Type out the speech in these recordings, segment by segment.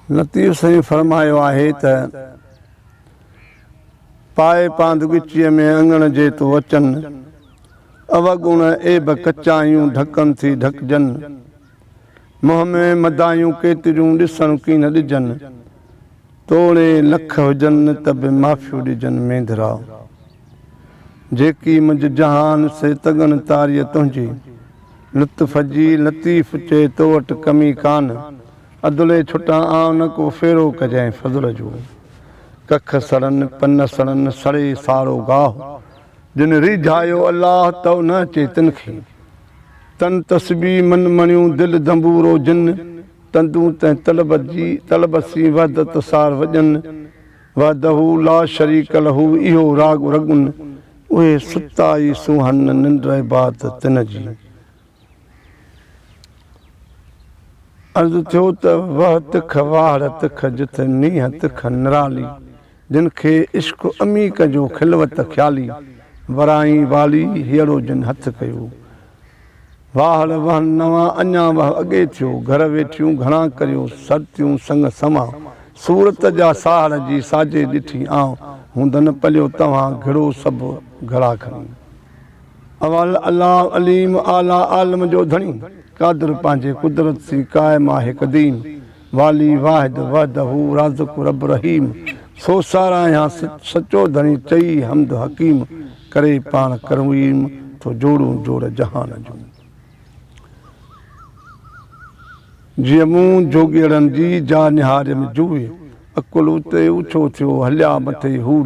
لطيف سائين فرمايو آهي ته، پائي پاند ڳچيء ۾ اڱڻ جي تو اچن، اوڳڻ عيب ڪچا يون ڍڪن ٿي ڍڪجن. منهن ۾ مدايون ڪيتريون ڏسڻ ڪين ڏجن، توڻي لک هجن ته به معافيون ڏجن مينڌرا، جيڪي منجهه جهان سي تڳن تاريء تنهنجي، لطف جي لطيف چئي تو وٽ ڪمي ڪان، ادلي ڇٽان آئون نه ڪو ڦيرو ڪجانء فضل جو، ڪک سڙن پن سڙن سڙي ساڙو گاهه، جن ريجهايو الله تو نه اچي تن کي، تن تسبيح من مڻيون دل دنبورو جن تندون تنهن طلبت جي طلبت سين وحدت سار وڄن وحده لا شريڪ له اهو راڳ رڳن اهي ستا ئي سونهن ننڊ عبادت تن جي. عرض ٿيو ته وه تک واهڙ تک جٿ نيهه تک نرالي جن کي عشق عميق جو خلوت خيالي ورائين والي هيئڙو جن هٿ ڪيو واهڙ وهن نوان اڃا وهه اڳي ٿيو گهر ويٺيون گهڻا ڪريو سرتيون سڱ سنوان صورت جا ساهڙ جي ساجي ڏٺي آئون هوندن پليو توهان گهڙو سڀ گهڙا کڻي اول الله عليم اعليٰ عالم جو ڌڻي قادر پنهنجي قدرت سين قائم آهي قديم والي واحد وحده رازق رب رحيم سو ساراهيان سچو ڌڻي چئي حمد حڪيم ڪري پاڻ ڪرويم ٿو جوڙون جوڙ جهان جون جيئن مون جوڳيئڙن جي جا نهاريم جوهي اڪل اتي اوڇو ٿيو هليا مٿي هوڙ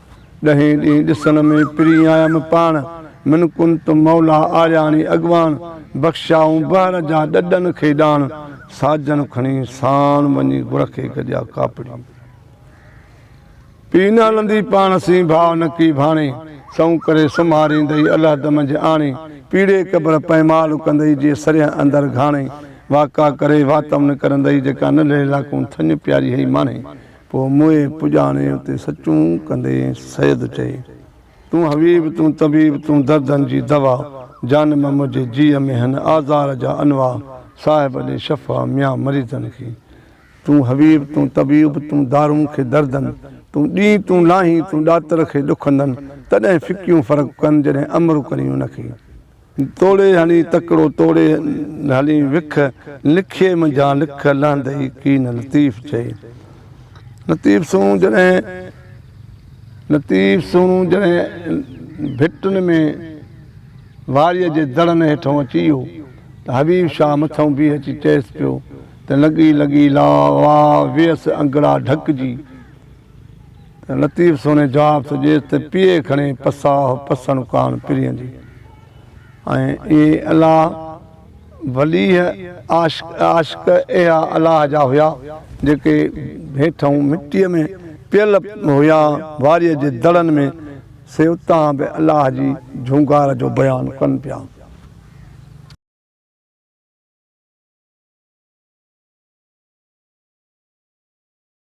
ڏهين ڏينهن ڏسڻ ۾ پرين آيم پاڻ. من ڪنت مولا آرياڻي اڳواڻ. بخشيائون بحر جا ڏڏن کي ڏاڻ. ساجن کڻي ساڻ وڃي گڙ کي گڏيا ڪاپڙي. پيئي نه هلندي پاڻ سين ڀاء نڪي ڀاڻي. سئون ڪري سمهاريندئي الهد منجهه آڻي. پيڙهي قبر پئمال ڪندئي جي سرهه اندر گهاڻي. واڪا ڪري واتم نه ڪرندئي جيڪا نلهي لاکون ٿڃ پياري هئي ماڻهي. پوء موئي پڄاڻي اتي سچون ڪندين سيد چئي تون حبيب تون طبيب تون دردن جي دوا جانم منهنجي جيء ۾ هن آزار جا انواع صاحب ڏي شفا ميان مريضن کي تون حبيب تون طبيب تون دارون کي دردن تون ڏين تون لاهين تون ڏاتر کي ڏکندن تڏهن ڦڪيون فرق ڪن جڏهن امر ڪرين ان کي. توڙي هڻي تڪڙو توڙي هلي وک، لکيي منجهان لک لهندئي ڪين لطيف چئي. لطيف سهڻو جڏهن لطيف سهڻو جڏهن ڀٽن ۾ واريء جي دڙن هيٺئون اچي ويو ته حبيب شاهه مٿئون بيهي اچي چئيس پيو ته لڳي لڳي لا وا ويس انگڙا ڍڪجي لطيف سوني جواب ٿو ڏيس ته پيئي کڻي پساهه پسڻ ڪاڻ پرين جي ۽ اهي الاهه وليه عاشق اهيا الاهه جا هيا جيڪي هيٺئون مٽيء ۾ پيل هيا واريء جي دڙن ۾ سي اتان به الاهه جي جهونگار جو بيان ڪن پيا.